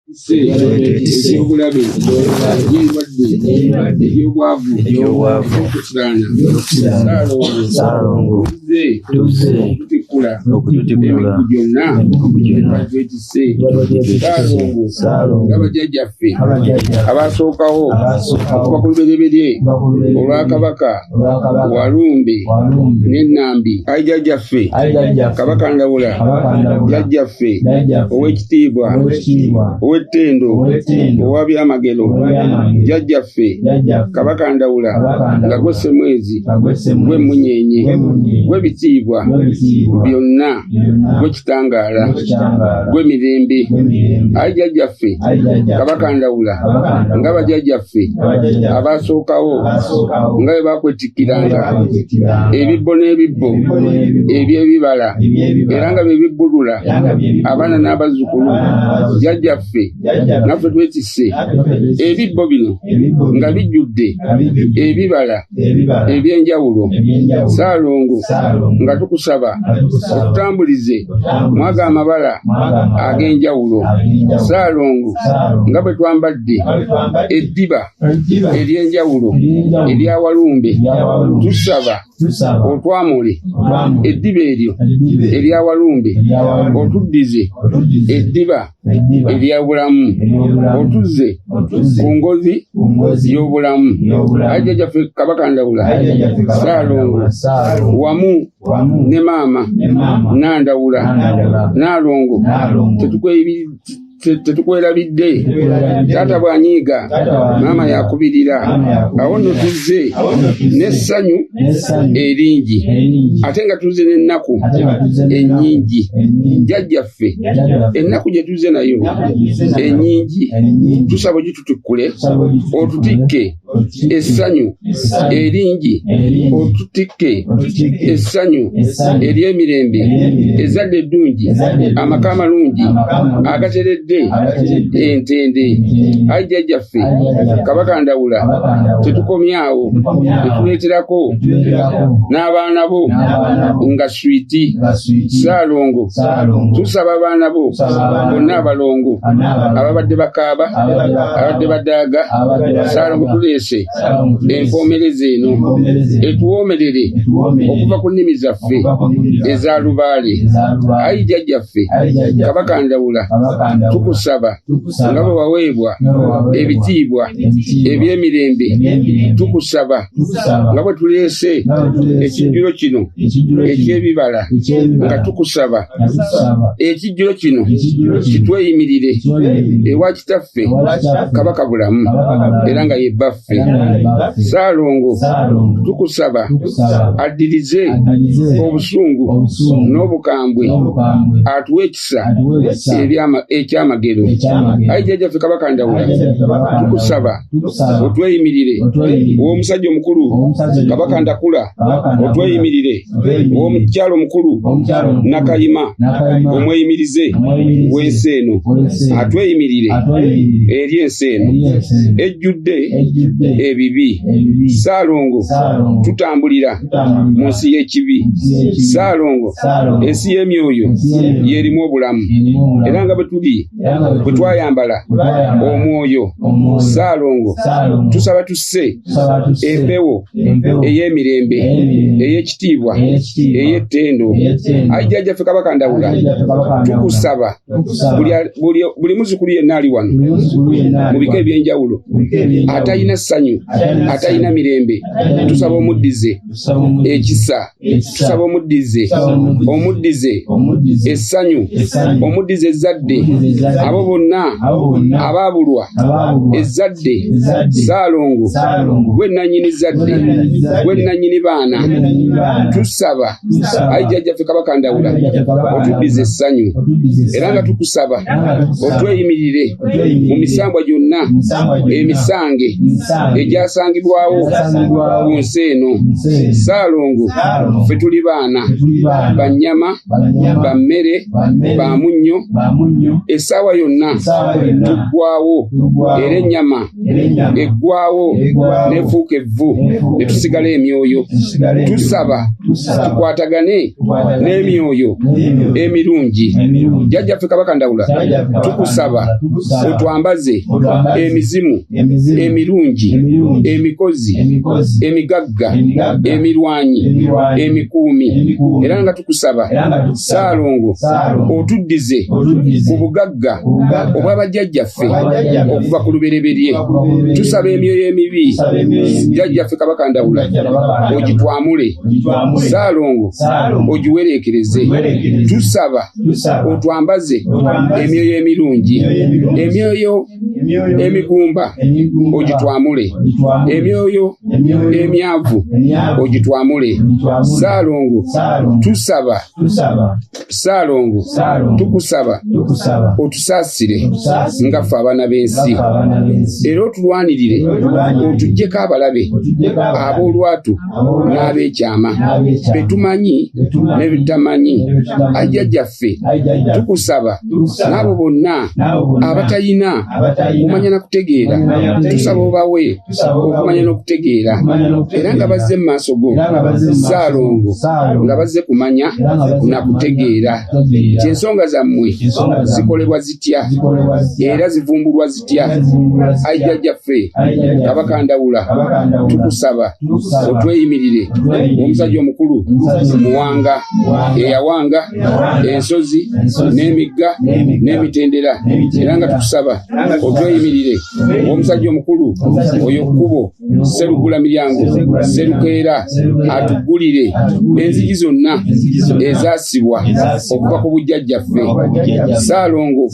ebyobulabe ebyendwadde ebyobwavu ebyokutiraanasaalongo tuzze okutikkula emikugu gyonna etise saalongo nga bajjajjaffe abaasookawo okuva ku lubereberye olwa kabaka walumbe nenambi ayi jajjaffe kabaka ndawula jajjaffe owekitiibwa owettendo owa byamagero jajjaffe kabaka ndawula nga gwe ssemwezi gwe munyenye gwe bitiibwa byonna gwe kitangaala gwe mirembe ayi jajjaffe kabaka ndawula nga bajajjaffe abaasookawo nga bwe bakwetikkiranga ebibbo n'ebibbo eby'ebibala era nga bye bibbulula abaana n'abazzukulu jajjaffe naffe twetisse ebibbo bino nga bijjudde ebibala ebyenjawulo saalongo nga tukusaba otutambulize mwaga amabala ag'enjawulo saalongo nga bwe twambadde eddiba ery'enjawulo erya walumbe tusaba otwamule eddiba eryo erya walumbe otuddize eddiba ebyabulamu otuze ku ngozi y'obulamu ajja gyaffe kabaka ndawula saalongo wamu ne maama nandawula naalongo tetukwerabidde taata bwanyiiga maama yakubirira awo no tuzze n'essanyu eringi ate nga tuzze n'ennaku ennyingi jajja yaffe ennaku gye tuzze nayo ennyingi tusaba ogitutukkule otutikke essanyu eringi otutikke essanyu ery'emirembe ezadde eddungi amaka amalungi agateredde entende ayi jjajjaffe kabaka ndawula tetukomyawo etuleeterako n'abaana bo nga switi saalongo tusaba abaana bo bonna abalongo ababadde bakaaba ababadde badaaga saalongo tuleese empoomereza eno etuwoomerere okuva ku nnimi zaffe eza lubaale ayi jajjaffe kabaka ndawula tukusaba nga bwe waweebwa ebitiibwa ebyemirembe tukusaba tukusaba nga bwe tuleese nga bwe tuleese ekijjulo kino ekijjulo kino eky'ebibala nga eky'ebibala tukusaba nga tukusaba ekijjulo kino ekijjulo kino kitweyimirire kitweyimirire ewa kitaffe ewa kitaffe kabaka bulamu kabaka bulamu era nga ye bbaffe era nga ye bbaffe saalongo saalongo tukusaba tukusaba addirize addize obusungu obusungu n'obukambwe n'obukambwe atuwe ekisa atuwe ekisa ebyama- ekyamagero ekyamagero ayi jjajjaffe kabaka ndawula Ayi Jjajjaffe Kabaka Ndawula. tukusaba otweyimirire womusajja omukulu kabaka ndakula otweyimirire womukyalo omukulu nakayima omweyimirize wensi eno atweyimirire eri ensi eno ejjudde ebibi saalongo tutambulira mu nsi y'ekibi saalongo ensi y'emyoyo yerimu obulamu era nga bwe tuli bwe twayambala omwoyo saalongo tusaba tusse empewo ey'emirembe ey'ekitiibwa ey'ettendo ayi jjajja ffe kabaka ndawula tukusaba buli muzukulu yenna ali wano mu bika eby'enjawulo atalina ssanyu atalina mirembe tusaba omuddize ekisa saba omuddize omuddize essanyu omuddize ezzadde abo bonna abaabulwa ezzadde saalongo gwe nannyini zzadde gwe nannyini baana tusaba ayi jjajjaffe kabaka ndawula otuddize essanyu era nga tukusaba otweyimirire mu misambwa gyonna emisange egyasangibwawo ku nsi eno saalongo fe tuli baana bannyama ba mmere ba munnyo essaawa yonna tuggwawo era ennyama eggwawo nefuuka evvu ne tusigala emyoyo tusaba tukwatagane n'emyoyo emirungi jjajjaffe kabaka ndawula tukusaba otwambaze emizimu emirungi emikozi emigagga emirwanyi emikuumi era nga tukusaba saalongo otuddize ku bugagga obwabajjajjaffe ffe okuva ku lubereberye tusaba emyoyo emibi jajjaffe kabaka ndawula ogitwamule saalongo ogiwereekereze tusaba otwambaze emyoyo emirungi emyoyo emigumba ogitwamule emyoyo emyavu ogitwamule saalongo tusaba ssaalongo tukusaba otusaasire nga ffe abaana b'ensi era otulwanirire otuggyeko abalabe ab'olwatu n'ab'ekyama be tumanyi ne bitamanyi ajja gyaffe tukusaba n'abo bonna abatalina kumanya na kutegeera tusaba obawe okumanya n'okutegeera era nga bazze mu maaso go ssaalongo nga bazze kumanya na kutegeera nti ensonga zammwe zikolebwa zitya era zivumbulwa zitya aijajjaffe kabaka ndawula tukusaba otweyimirire omusajja omukulu muwanga eyawanga ensozi n'emigga n'emitendera era nga tukusaba otweyimirire omusajja omukulu oyo kkubo serugula miryango serukeera atugulire enzigi zonna ezasibwa okuva ku bujjajjaffe saalongo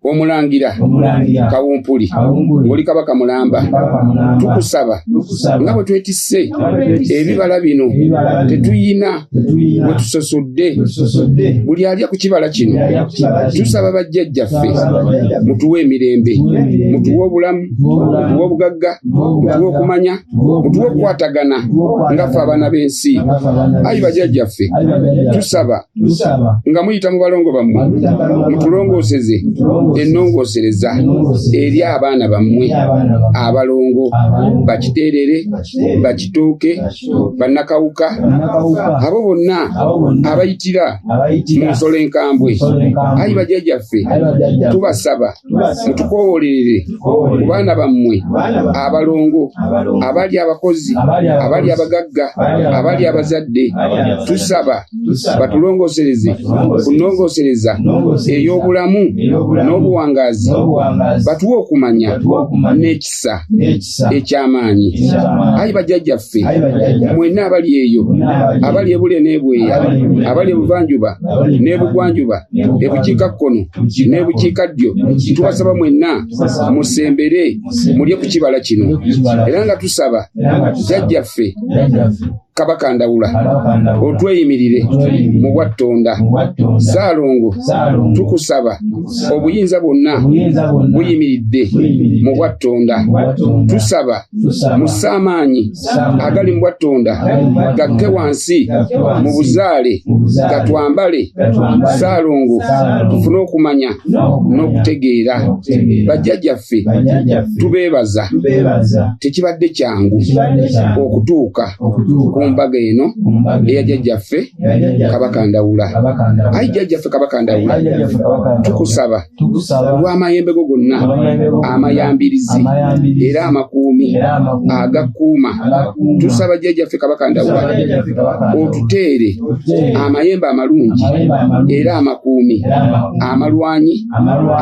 omulangira kawumpuli oli kabaka mulamba tukusaba nga bwe twetisse ebibala bino tetuyina wetusosodde buli alya ku kibala kino tusaba bajjajjaffe mutuwe emirembe mutuwe obulamu mutuwe obugagga mutuwe okumanya mutuwe okukwatagana ngaffe abaana b'ensi ayi bajjajjaffe tusaba nga muyita mu balongo bammwe mutulongooseze ennongoosereza eri abaana bammwe abalongo bakiteerere bakitooke bannakawuka abo bonna abayitira mu nsolo enkambwe ayi bajajaffe tubasaba mutukoowolerere ku baana bammwe abalongo abali abakozi abali abagagga abali abazadde tusaba batulongosereze kunongosereza ey'obulamu n'obuwangaazi batuwe okumanya n'ekisa eky'amaanyi ayi bajjajjaffe mwenna abali eyo abali ebule n'ebweya abali ebuvanjuba n'ebugwanjuba ebukiika kkono n'ebukiika ddyo tubasaba mwenna musembere mulye ku kibala kino era nga tusaba jjajjaffe kabaka ndawula otweyimirire mu bwattonda saalongo tukusaba obuyinza bwonna buyimiridde mu bwattonda tusaba musaamaanyi agali mu bwattonda gakke wansi mu buzaale gatwambale saalongo tufune okumanya n'okutegeera bajjajjaffe tubeebaza tekibadde kyangu okutuuka ku mbaga eno eya jjajjaffe kabaka ndawula ayi jjajjaffe kabaka ndawula tukusaba olw'amayembe go gonna amayambirizi era amakuumi agakuuma tusaba jjajjaffe kabaka ndawula otuteere amayembe amalungi era amakuumi amalwanyi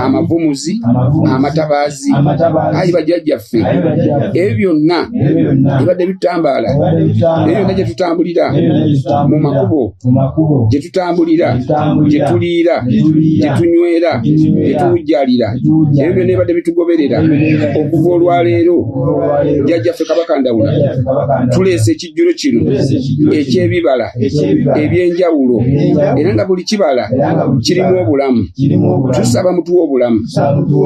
amavumuzi amatabaazi ayi bajjajjaffe ebyo byonna ebadde bitambaala ebyo byonna gye tutambulira mu makubo gye tutambulira gye tuliira gye tunywera gye tuwujjalira ebyo byonna ebadde bitugoberera okuva olwaleero jjajjaffe kabaka ndawula tuleese ekijjulo kino ekyebibala ebyenjawulo era nga buli kibala kirimu obulamu tusaba mutuwa obulamu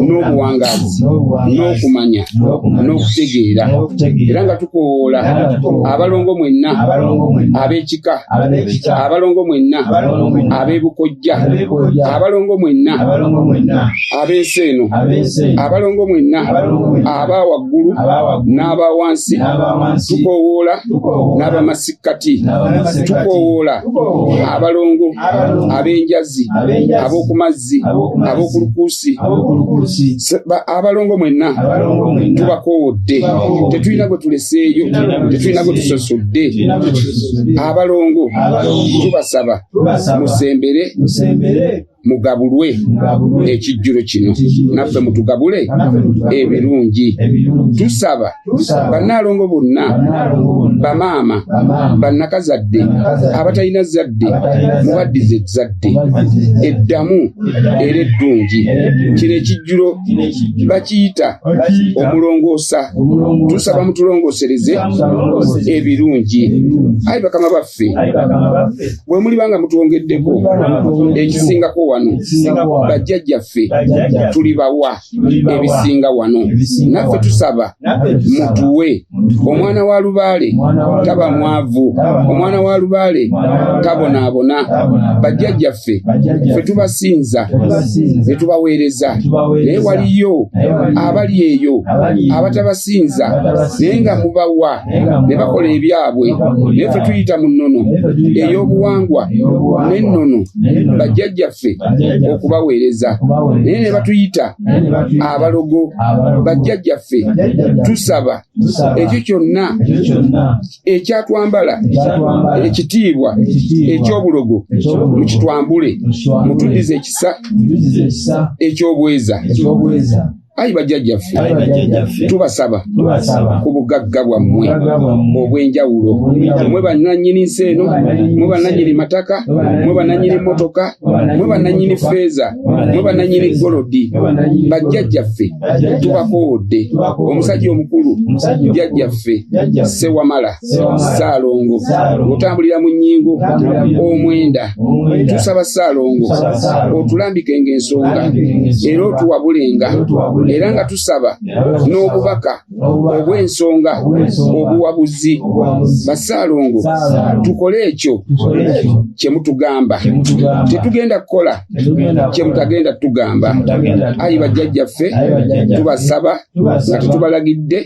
n'obuwangaazi n'okumanya n'okutegeera era nga tukowoola abalongo mwenna ab'ekika abalongo mwenna ab'ebukojja abalongo mwenna ab'ensi eno abalongo mwenna aba waggulu n'aba wansi tukoowoola n'abamasikkati tukoowoola abalongo ab'enjazi ab'oku mazzi ab'oku lukuusi abalongo mwenna tubakoowodde tetulina gwe tuleseeyo tetulina gwe tusosodde abalongo tubasaba musembere mugabulwe ekijjulo kino naffe mutugabule ebirungi tusaba bannaalongo bonna bamaama bannakazadde abatalina zadde mubaddize ezzadde eddamu era eddungi kino ekijjulo bakiyita omulongoosa tusaba mutulongoosereze ebirungi ayi bakama baffe bwe muliba nga mutwongeddeko ekisingako wano bajjajjaffe tulibawa ebisinga wano naffe tusaba mutuwe omwana wa lubaale taba mwavu omwana wa lubaale tabonaabona bajjajjaffe fe tubasinza ne tubaweereza naye waliyo abali eyo abatabasinza naye nga mubawa ne bakola ebyabwe naye fe tuyita mu nnono ey'obuwangwa n'ennono bajjajjaffe okubaweereza naye ne batuyita abalogo bajjajjaffe tusaba ekyo kyonna ekyatwambala ekitiibwa eky'obulogo mukitwambule mutuddize ekisa eky'obweza ayi bajjajjaffe tubasaba ku bugagga bwammwe obw'enjawulo mwe bannannyini nsi eno mwe bannannyini mataka mwe bannannyini mmotoka mwe bannannyini feeza mwe bannannyini golodi bajjajjaffe tubakoowodde omusajja omukulu jjajjaffe sewamala ssaalongo otambulira mu nnyingo omwenda tusaba ssaalongo otulambike ng'ensonga era otuwabulenga era nga tusaba n'obubaka obw'ensonga obuwabuzi bassaalongo tukole ekyo kye mutugamba tetugenda kukola kye mutagenda tugamba ayi bajjajjaffe tubasaba nga tetubalagidde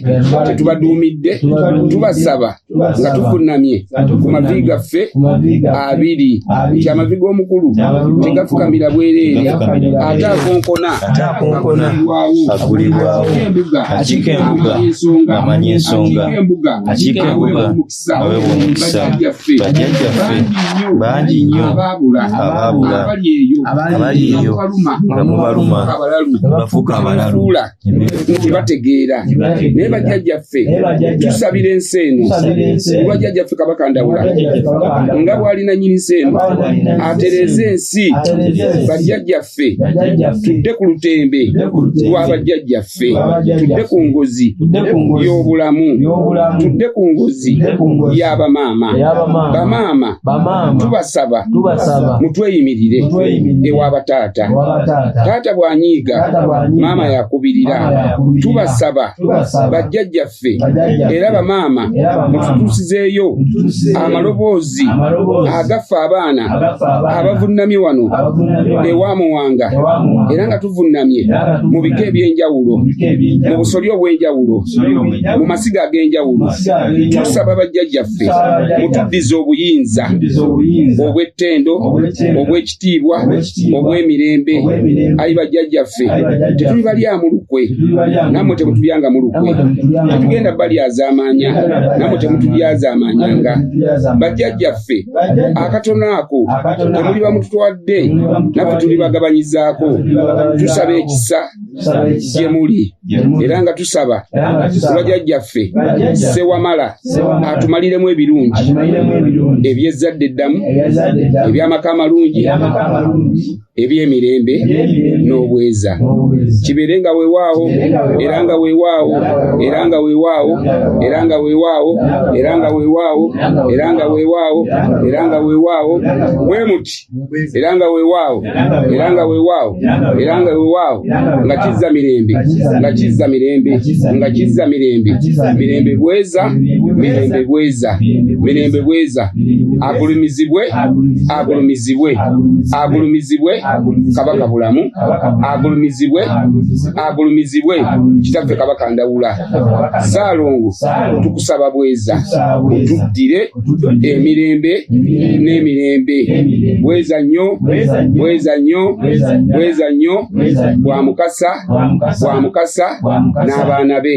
tetubaduumidde tubasaba nga tufunamye ku mavi gaffe abiri nti amavi g'omukulu tegafukamira bwereere ate akonkona agulibwawo akiika embuga amanya ensonga akiika embuga awe omukisa bajjajjaffe bangi nnyo abaabula abali eyo nga mubaluma bafuuka abalalu nti bategeera naye bajjajjaffe tusabira ensi eno olwa jjajjaffe kabaka ndawula nga bwalina nyini nsi eno atereeze ensi bajjajjaffe bajjajjaffe tudde ku lutembe lwa bajjajjaffe tudde ku ngozi y'obulamu tudde ku ngozi y'abamaama bamaama tubasaba mutweyimirire ewa bataata taata bw'anyiiga maama yakubirira tubasaba bajjajjaffe ffe era bamaama mututuusizeeyo amaloboozi agaffe abaana abavunnamye wano ewa muwanga era nga tuvunnamye mu bika eby'enjawulo mu busolya obw'enjawulo mu masiga ag'enjawulo tusaba bajjajjaffe mutuddize obuyinza obw'ettendo obw'eki kitiibwa obw'emirembe ayi bajjajjaffe tetuli balyamu lukwe nammwe temutulyangamu lukwe tetugenda balyazaamaanya nammwe temutulyazaamaanyanga bajjajjaffe akatono ako temuli bamututwadde naffe tuli bagabanyizaako tusaba ekisa gye muli era nga tusaba kuba jajjaffe sewamala atumaliremu ebirungi ebyezzadde eddamu ebyamaka amalungi ebyemirembe n'obweza kibeere nga wewaawo era nga wewaawo era nga wewaawo era nga wewaawo era nga wewaawo era nga wewaawo era nga wewaawo wemuti era nga wewaawo era nga wewaawo era nga wewaawo nga kizza mirembe nga kizza mirembe nga kizza mirembe mirembe bweza mirembe bweza mirembe bweza agulumizibwe agulumizibwe agulumizibwe kabaka bulamu agulumizibwe agulumizibwe kitaffe kabaka ndawula saalongo tukusaba bweza otuddire emirembe n'emirembe bweza nnyo bweza nnyo bweza nnyo bwa mukasa bwa mukasa n'abaana be